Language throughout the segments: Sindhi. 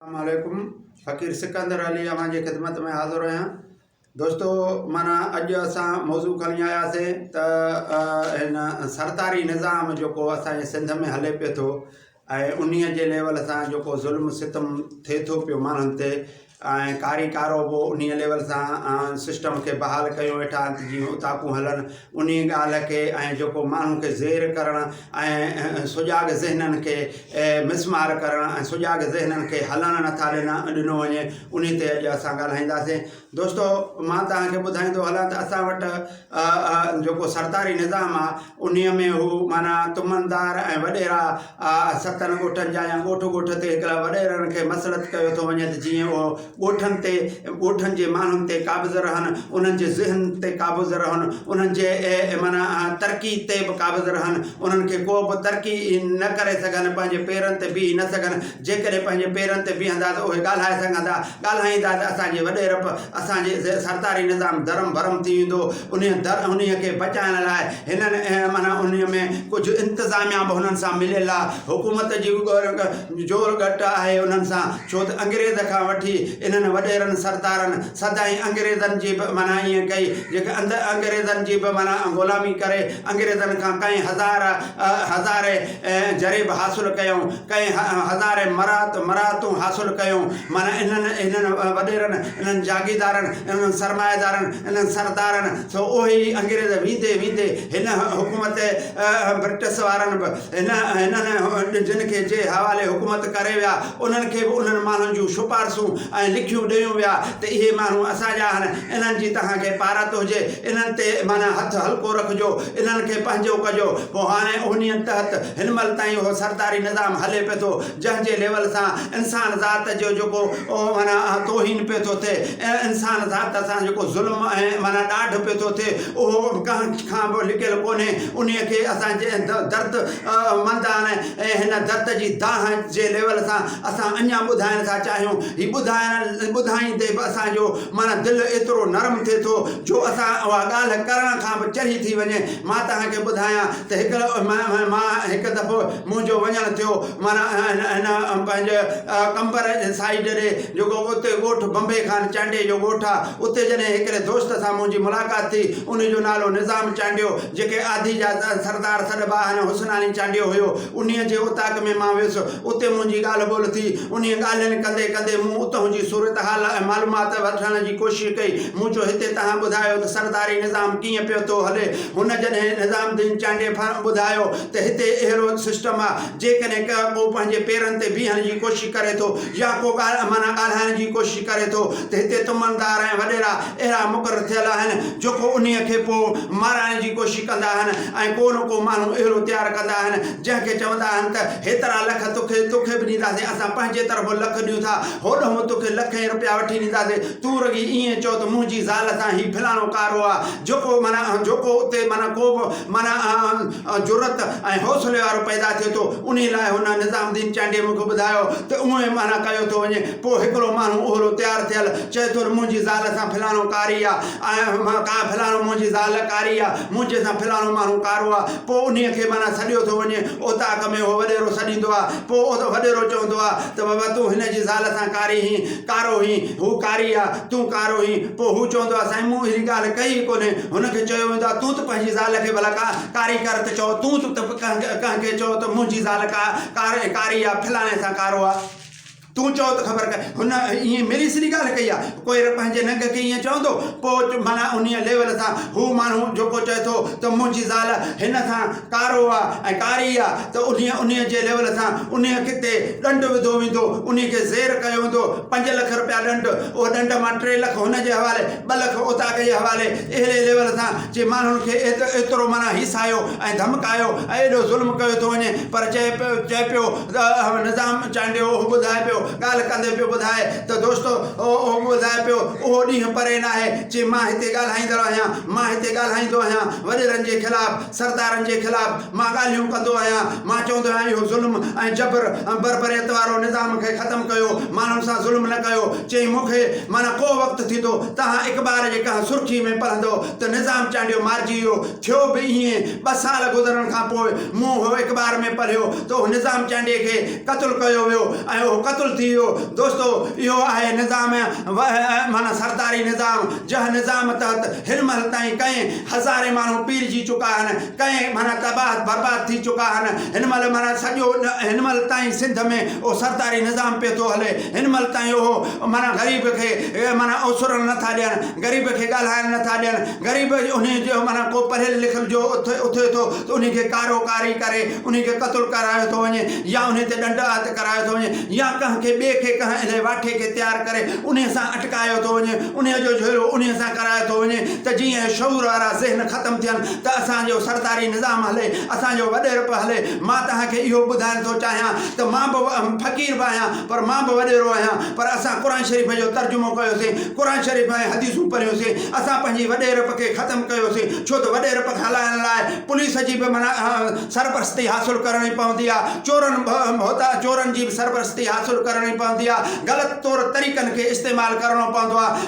اسلام عليڪم فقير سڪندر علي اوهان جي خدمت ۾ حاضر آهيان دوستو مانا اڄ اسان موضوع کڻي آياسين ته هن سرتاري نظام جيڪو اسان جي سنڌ ۾ هلي پيو ٿو ۽ انهي جي ليول سان جيڪو ظلم ستم ٿئي ٿو پيو ماڻهن تي ۽ ڪاري ڪارو به انهي ليول سان سسٽم کي بحال ڪيو ويٺا آهن ته جيئن اوطاقون هلن انهيء ڳالهه کي ۽ جيڪو ماڻهن کي زير ڪرڻ ۽ سجاڳ ذهنن کي مسمار ڪرڻ ۽ سجاڳ ذهنن کي هلڻ نٿا ڏنا ڏنو وڃي انهي تي اڄ اسان ڳالهائينداسين دوستو مان توهان کي ٻڌائيندو هلان ته اسان وٽ جيڪو سرڪاري نظام آهي انهيء ۾ هو معنيٰ تمندار ۽ وڏيرا آء ستن ڳوٺن جا يا ڳوٺ ڳوٺ تي هڪڙا وڏيرن کي مسلط ڪيو ٿو وڃي ته جيئن اهو ڳوٺن تي ڳوٺن جي ماڻهن تي قابض رهن، انهن جي ذهن تي قابض رهن، انهن جي معنيٰ ترقي تي به قابض رهن، انهن کي ڪو به ترقي نه ڪري سگهن، پنهنجي پيرن تي بيهي نه سگهن، جيڪڏهن پنهنجي پيرن تي بيهندا ته اهي ڳالهائي سگهندا، ڳالهائيندا ته اسان جي وڏيرپ، اسان جي سرتاري نظام درهم برهم ٿي ويندو. انهيء در انهيء کي بچائڻ لاء هنن ۽ معنيٰ انهيء ۾ ڪجهه انتظاميا به هنن سان مليل آ. حڪومت جي به زور گهٽ آهي انهن سان، ڇو ته انگريز کان وٺي انهن وڏيرن سردارن سدائين انگريزن جي به معنيٰ ائين ڪئي، جيڪي اندر انگريزن جي به معنيٰ غلامي ڪري انگريزن کان ڪئين هزار هزاري جريب حاصل ڪيائون، ڪئين هزاري مراعتون حاصل ڪيائون، معنيٰ انهن هنن وڏيرن. انهن جاگيردارن، انهن سرمائيدارن، انهن سردارن سو اهي ئي انگريز ويندي ويندي هن حڪومت برٽس وارن به هن هنن جن کي جي حوالي حڪومت ڪري ويا انهن کي به انهن ماڻهن جون شپارسون ۽ لکيون ڏيون ويا ته اهي ماڻهو اسان جا آهن انهن جي توهان کي پارت هجي انهن تي معنيٰ هٿ هلڪو رکجو انهن کي پنهنجو ڪجو پوء هاڻي انهيء تحت هن مهل تائين اهو سرداري نظام هلي پيو ٿو. جنهن جي ليول سان انسان ذات جو جيڪو معنيٰ توهين پيو ٿو ٿئي ۽ انسان ذات سان جيڪو ظلم ۽ معنيٰ ڏاڍ پيو ٿو ٿئي اهو ڪنهن کان به لڪيل ڪونهي انهي کي اسان جي درد مندان ۽ هن درد جي دانهن جي ليول سان اسان اڃان ٻڌائڻ ٿا چاهيون هي ٻڌائڻ ٻڌائيندي به اسان جو معنيٰ دل ايترو نرم ٿئي ٿو جو اسان اها ڳالهه ڪرڻ کان به چري ٿي وڃي مان توهان کي ٻڌايان ته هڪ مان هڪ دفعو منهنجو وڃڻ ٿيو معنيٰ هن پنهنجي قمبر سائيڊ ڏي جيڪو اتي ڳوٺ بمبي خان چانڊيي جو ڳوٺ آ اتي جڏهن هڪڙي دوست سان منهنجي ملاقات ٿي ان جو نالو نظام چانڊيو جيڪي آڌي جا سردار سڏبا آهن حسناڻي چانڊيو هيو انهي جي اوطاق ۾ مان ويس اتي منهنجي ڳالهه ٻولهه ٿي انهي ڳالهين ڪندي ڪندي مون اتهون جي صورتحال ۽ معلومات وٺڻ جي ڪوشش ڪئي مون چيو هتي تهان ٻڌايو ته سرداري نظام ڪيئن پيو ٿو هلي هن جڏهن نظام الدين چانڊييفر ٻڌايو ته هتي اهڙو سسٽم آ، جيڪڏهن ڪه ڪو پنهنجي پيرن تي بيهڻ جي ڪوشش ڪري ٿو يا ڪو ڳالهه معنيٰ ڳالهائڻ جي ڪوشش ڪري ٿو ته هتي تمندار ۽ وڏيرا اهڙا مقرر ٿيل آهن جو ڪو انهيء کي پوء مارائڻ جي ڪوشش ڪندا آهن ۽ ڪو نه ڪو ماڻهو اهڙو تيار ڪندا آهن جنهن کي چوندا آهن ته هيترا لک توکي توکي به ڏينداسين اسان پنهنجي طرفون لک ڏيون ٿا هوڏهون توکي لکين رپيا وٺي ڏينداسين تون رڳي ائين چئو ته منهنجي زال سان هي فلاڻو ڪارو آ جو ڪو معنيٰ اهن جو ڪو اتي معنيٰ ڪو به معنيٰ اهن جرئت ۽ حوصلي وارو پيدا ٿئي ٿو انهي لاء هن نظام الدين چانڊيي مون کي ٻڌايو ته اهو ئي معنيٰ ڪيو ٿو وڃي پوء هڪڙو ماڻهو اهلو تيار ٿيل چئي ٿو ته منهنجي زال سان فلاڻو ڪاري آ ۽ فلاڻو منهنجي زال ڪاري آ منهنجي سان فلاڻو ماڻهو ڪارو آ پوء انهي کي معنيٰ سڏيو ٿو وڃي اوطاق ۾ اهو وڏيرو سڏيندو آ پوء وڏيرو چوندو آ ته بابا تون هن جي زال سان ڪاري هين ڪارو هين هو ڪاري آ تون ڪارو هين پوء هو چوندو آهي سائين مون اهڙي ڳالهه ڪئي ئي ڪونهي. هن کي چيو ويندو آهي ته تون ته پنهنجي زال کي ڀلا ڪا ڪاري ڪر ته چئو، تون ته ڪنهن کي چئو ته منهنجي زال ڪا ڪاري ڪاري آهي فلاڻي سان ڪارو آهي. تون چئو ته خبر ڪئين. هن ائين ميري سري ڳالهه ڪئي آهي. ڪوئر پنهنجي ننگ کي ائين چوندو پوء معنيٰ انهيء ليول سان هو ماڻهو جيڪو چئي ٿو ته منهنجي زال هن سان ڪارو آ ۽ ڪاري آ ته انهي انهي جي ليول سان انهي کي تي ڏنڊ وڌو ويندو انهي کي زير ڪيو ويندو پنج لک رپيا ڏنڊ اهو ڏنڊ مان ٽي لک هن جي حوالي ٻه لک اوطاق جي حوالي اهڙي ليول سان جي ماڻهن کي ايترو معنيٰ هيسايو ۽ ڌمڪايو ۽ ايڏو ظلم ڪيو ٿو وڃي پر چئي پيو چئي پيو اهو نظام چانڊيو اهو ٻڌائي پيو ڳالهه ڪندي پيو ٻڌائي ته دوستو اهو ٻڌائي پيو اهو ڏينهن پري ناهي جي مان هتي ڳالهائيندڙ آهيان مان هتي ڳالهائيندو آهيان وڏيرن جي خلاف سردارن جي خلاف مان ڳالهيون ڪندو آهيان، مان چوندو آهيان اهو ظلم ۽ جبر ۽ بربريت وارو نظام کي ختم ڪيو، ماڻهن سان ظلم نه ڪيو. چيائين مون کي معنيٰ ڪو وقت ٿيندو، توهان اخبار جي ڪنهن سرخي ۾ پڙهندؤ ته نظام چانڊيو مارجي ويو. ٿيو به ائين، ٻه سال گذرڻ کان پوء مون اهو اخبار ۾ پڙهيو ته اهو نظام چانڊيي کي قتل ڪيو ويو ۽ اهو قتل ٿي ويو. دوستو! اهو آهي نظام معنيٰ سرداري نظام، جنهن نظام تحت هيلمهل تائين ڪئين. هزارين ماڻهو پيرجي چڪا هن ڪئين معنيٰ تباهت برباد ٿي چڪا هن هن مهل معنيٰ سڄو هن مهل تائين سنڌ ۾ اهو سرداري نظام پيو ٿو هلي هن مهل تائين اهو معنيٰ غريب کي معنيٰ اوسرڻ نه ٿا ڏين غريب کي ڳالهائڻ نه ٿا ڏين غريب انهي جو معنيٰ ڪو پڙهيل لکيل جو اٿي ٿو ته انهي کي ڪارو ڪاري ڪري انهي کي قتل ڪرايو ٿو وڃي يا انهي تي ڏنڊ آت ڪرايو ٿو وڃي يا ڪنهن کي ٻئي کي ڪنهن اهڙي واٺي کي تيار ڪري انهي سان اٽڪايو ٿو وڃي انهي جو جهيڙو انهي سان ڪرايو ٿو وڃي ته جيئن اهي شعور وارا ذهن ختم ٿين ته اسان جو سرداري نظام هلي، اسان جو وڏيرپ هلي. مان توهان کي اهو ٻڌائڻ ٿو چاهيان ته مان به فقير به آهيان پر مان به وڏيرو آهيان پر اسان قرآن شريف جو ترجمو ڪيوسين، قرآن شريف ۽ حديثون پڙهيوسين، اسان پنهنجي وڏيرپ کي ختم ڪيوسين ڇو ته وڏيرپ کي هلائڻ لاء پوليس جي به سرپرستي حاصل ڪرڻي پوندي آهي، چورن ڀوتا چورن جي به سرپرستي حاصل ڪرڻي پوندي آهي، غلط طور طريقن کي استعمال ڪرڻو پوندو آهي.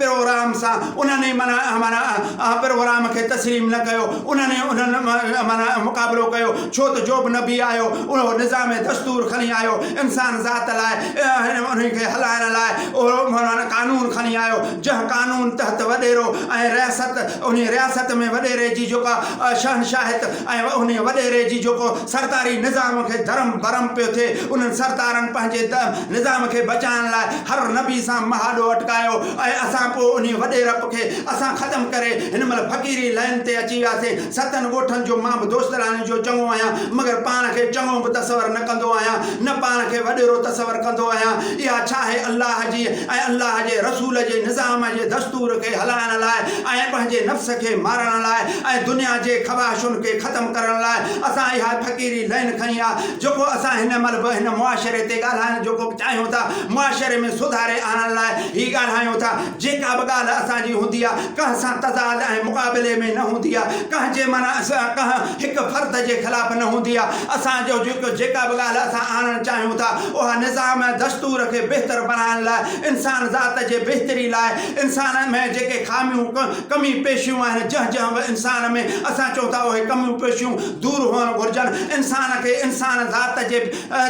پروگرام سان انهن ئي معنيٰ معنيٰ پروگرام کي تسليم نه ڪيو، انهن ئي انهن معنيٰ معنيٰ مقابلو ڪيو، ڇو ته جوبه نبي آيو، اهو نظام دستور کڻي آيو، انسان ذات لاء ۽ انهي کي هلائڻ لاء اهو معنيٰ قانون کڻي آيو، جنهن قانون تحت وڏيرو ۽ رياست انهي رياست ۾ وڏيري جي جيڪا شهنشاهت ۽ انهي وڏيري جي جيڪو سرداري نظام کي ڌرم ڀرم پيو ٿئي، انهن سردارن پنهنجي نظام کي بچائڻ لاء هر نبي سان مهاڏو اٽڪايو ۽ اسان پوء انهي وڏي رپ کي اسان ختم ڪري هن مهل فقيري لائين تي اچي وياسين ستن ڳوٺن جو مان به دوستيڙاڻين جو چڱو آهيان مگر پاڻ کي چڱو به تصور نه ڪندو آهيان نه پاڻ کي وڏيرو تصور ڪندو آهيان اها ڇا آهي الله جي ۽ الله جي رسول جي نظام جي دستور کي هلائڻ لاء ۽ پنهنجي نفس کي مارڻ لاء ۽ دنيا جي خواهشن کي ختم ڪرڻ لاء اسان اها فقيري لائين کنئي آ جيڪو اسان هن مهل به هن معاشري تي ڳالهائڻ جو ڪو چاهيون ٿا، معاشري ۾ سڌاري آڻڻ لاء هي ڳالهايون ٿا، جيڪا به ڳالهه اسان جي هوندي آ، ڪنهن سان تضاد ۽ مقابلي ۾ نه هوندي آ، ڪنهن جي معنيٰ ڪنهن هڪ فرد جي خلاف نه هوندي آ، اسان جو جيڪو جيڪا به ڳالهه اسان آڻڻ چاهيون ٿا، اها نظام ۽ دستور کي بهتر بڻائڻ لاء، انسان ذات جي بهتري لاء، انسان ۾ جيڪي خاميون، ڪمي پيشيون آهن، جنهن جنهن به انسان ۾ اسان چئون ٿا اهي ڪميون پيشيون، دور هئڻ گهرجن، انسان کي انسان ذات جي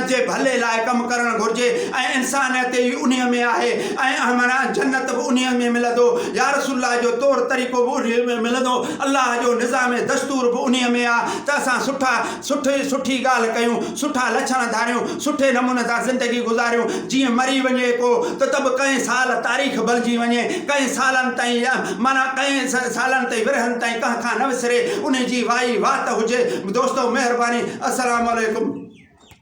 جي ڀلي لاء ڪم ڪرڻ گهرجي ۽ انسانيت ئي انهي ۾ آهي ۽ معنيٰ جنت به انهي ۾ ملندو، يارسول الله جو طور طريقو به انهي ۾ ملندو، الله جو نظام دستور به انهي ۾ آ ته اسان سٺا سٺي سٺي ڳالهه ڪيون، سٺا لڇڻ ڌاريون، سٺي نموني سان زندگي گذاريون، جيئن مري وڃي ڪو ته ته به ڪئين سال تاريخ بلجي وڃي، ڪئين سالن تائين معنيٰ ڪئين سالن تائين ورهين تائين ڪنهن کان نه وسري. انهي جي وائي وات هجي دوستو مهرباني السلام عليڪم.